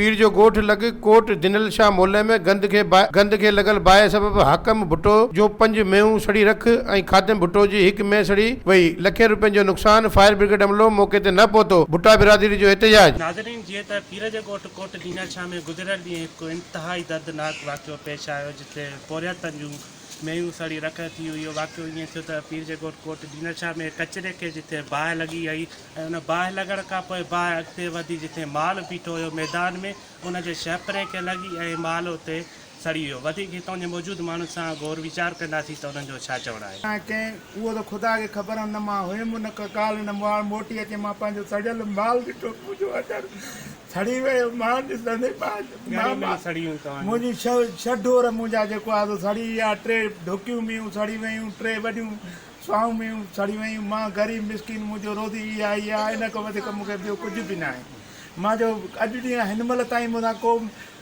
پير جو ڳوٺ لڳ ڪوٽ جنرل شاهه مولئي ۾ گند کي باهه گند کي لڳل باهه سبب حاڪم ڀٽو جون پنج مينهون سڙي رک ۽ خادم ڀٽو جي هڪ مينهن سڙي وئي لکين روپين جو نقصان فائر برگيڊ عملو موقعي تي نه پهتو ڀٽا برادري جو احتجاج. ناظرين جيئن ته پير جي ڳوٺ ڪوٽ جنرل شاهه ۾ گذريل ڏينهن هڪ انتهائي دردناڪ واقعو پيش آيو جتي پورهيتن جون مينهون سڙي رک ٿي هئي. اهو واقعو ائين ٿيو ته پيرجي ڳوٺ ڪوٽ ڊينر شاهه ۾ ڪچري کي جتي باهه لڳي هئي ۽ ان باهه لڳڻ کان پوء باهه اڳتي وڌي جتي مال بيٺو هيو ميدان ۾ ان جي شهپري کي لڳي ۽ مال اتي سڙي ويو. وڌيڪ هتان جي موجود ماڻهن سان غور ويچار ڪنداسين ته انهن جو ڇا چوڻ آهي. ڪنهن ڪنهن اهو ته خدا کي خبر آهن نه مان هيم ان کان ڪالهه نه ماڻهو موٽي اچي مان پنهنجو سڙيل مال ڏٺو ته منهنجو اندر سڙي ويو مان ڏسندي ٻاجهه ماما منهنجي ڇهه ڍور منهنجا جيڪو آهي سو سڙي ويا ٽي ڍڪيون ميون سڙي ويون ٽي وڏيون سوائون ميون سڙي ويون مان غريب مسڪين منهنجو روزي اها ئي آهي ان کان وڌيڪ مون کي ٻيو ڪجهه به ناهي مان جو اڄ ڏينهن هن مهل تائين مون سان ڪو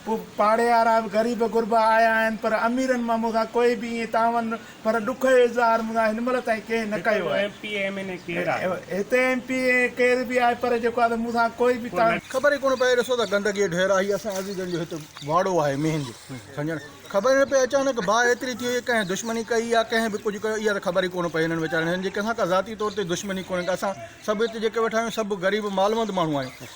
ڪو پاڙيهارا به غريب غربا آيا آهن پر اميرن مان مون سان ڪوئي به ائين تعاون پر ڏک جو اظهار مون سان هن مهل تائين ڪنهن نه ڪيو آهي. هتي ايم پي اي ڪير به آهي پر جيڪو آهي سو مون سان ڪوئي به تعاون. خبر ئي ڪونه پئي ڏسو ته گندگي جو ڍير آهي هي اسان عزيزن جو هت واڙو آهي مينهن جو سمجهڻ خبر ئي نه پئي اچانڪ باهه ايتري ٿي وئي ڪنهن ڪنهن دشمني ڪئي يا ڪنهن به ڪجهه ڪيو اها ته خبر ئي ڪونه پئي هنن ويچارن هنن جي ڪنهن سان ڪا ذاتي طور تي دشمني ڪونهي ڪا اسان سڀ هتي جيڪي ويٺا آهيون سڀ غريب مالوند ماڻهو آهيون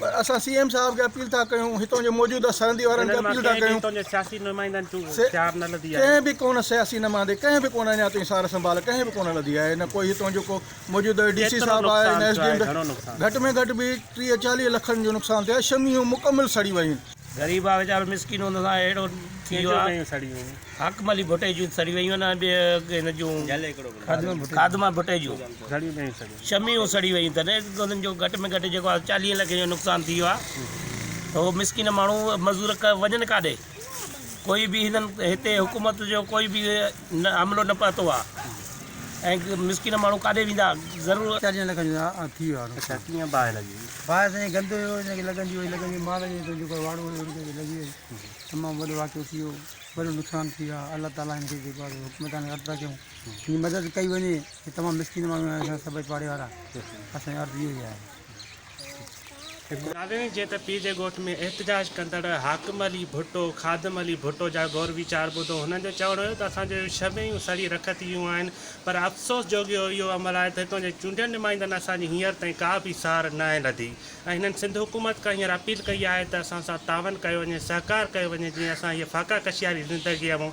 پر اسان سي ايم صاحب کي اپيل ٿا ڪيون هتان جي موجوده سرندي وارن کي اپيل ٿا ڪيون ڪنهن به ڪونه سياسي نمائندي ڪنهن به ڪونه اڃا تائين سار سنڀال ڪنهن به ڪونه لڌي آهي نه ڪوئي هتان جو ڪو موجوده ڊي سي صاحب آهي نه ايس ڊي ايم گهٽ ۾ گهٽ به ٽيهه چاليهه لکن جو نقصان ٿيو آهي شميون مڪمل سڙي ويون غريب آهي ويچارو مسڪين ان سان اهڙو ٿي ويو آهي حاڪم علي ڀٽي جون سڙي ويون آهن ٻيو هن جون خادمه ڀٽي جون شمعيون سڙي ويون تڏهن انهن جو گهٽ ۾ گهٽ جيڪو آهي چاليهين لکين جو نقصان ٿي ويو آهي ته هو مسڪين ماڻهو مزور وڃن ڪاڏي ڪوئي به هنن هتي حڪومت جو ڪوئي به نه حملو نه پهتو آهي ۽ مسڪين ماڻهو ڪاڏي ويندا ضرور چاليهن لکن جو ٿي ويو آهي اچا ڪيئن باهه لڳي باهه سائين گند هيو هن کي لڳندي وئي لڳندي مال جي هيٺ جيڪو واڙو هيو هن کي لڳي وئي تمام وڏو واقعو ٿي ويو وڏو نقصان ٿي ويو آهي الله تعالي هن کي جيڪو آهي حڪومتان عرض ٿا ڪيون هن جي مدد ڪئي وڃي هي تمام مسڪين ماڻهو آهن اسان سڀ پاڙي وارا اسان جي عرض اهو ئي آهي. ناويڻي جي ته پيء جي ڳوٺ ۾ احتجاج ڪندڙ حاڪم علي ڀٽو، خادم علي ڀٽو جا غور ويچار ٻڌو هنن جو چوڻ هيو ته اسان جون شمعيون سڙي رک ٿي ويون آهن پر افسوس جوڳي اهو عمل آهي ته هتان جي چونڊيل نمائندن اسان جي هينئر تائين ڪا به سار ناهي لڌي ۽ هنن سنڌ حڪومت کان هينئر اپيل ڪئي آهي ته اسان سان تعاون ڪيو وڃي سهڪار ڪيو وڃي جيئن اسان هيء فاقا ڪشياري زندگيء مون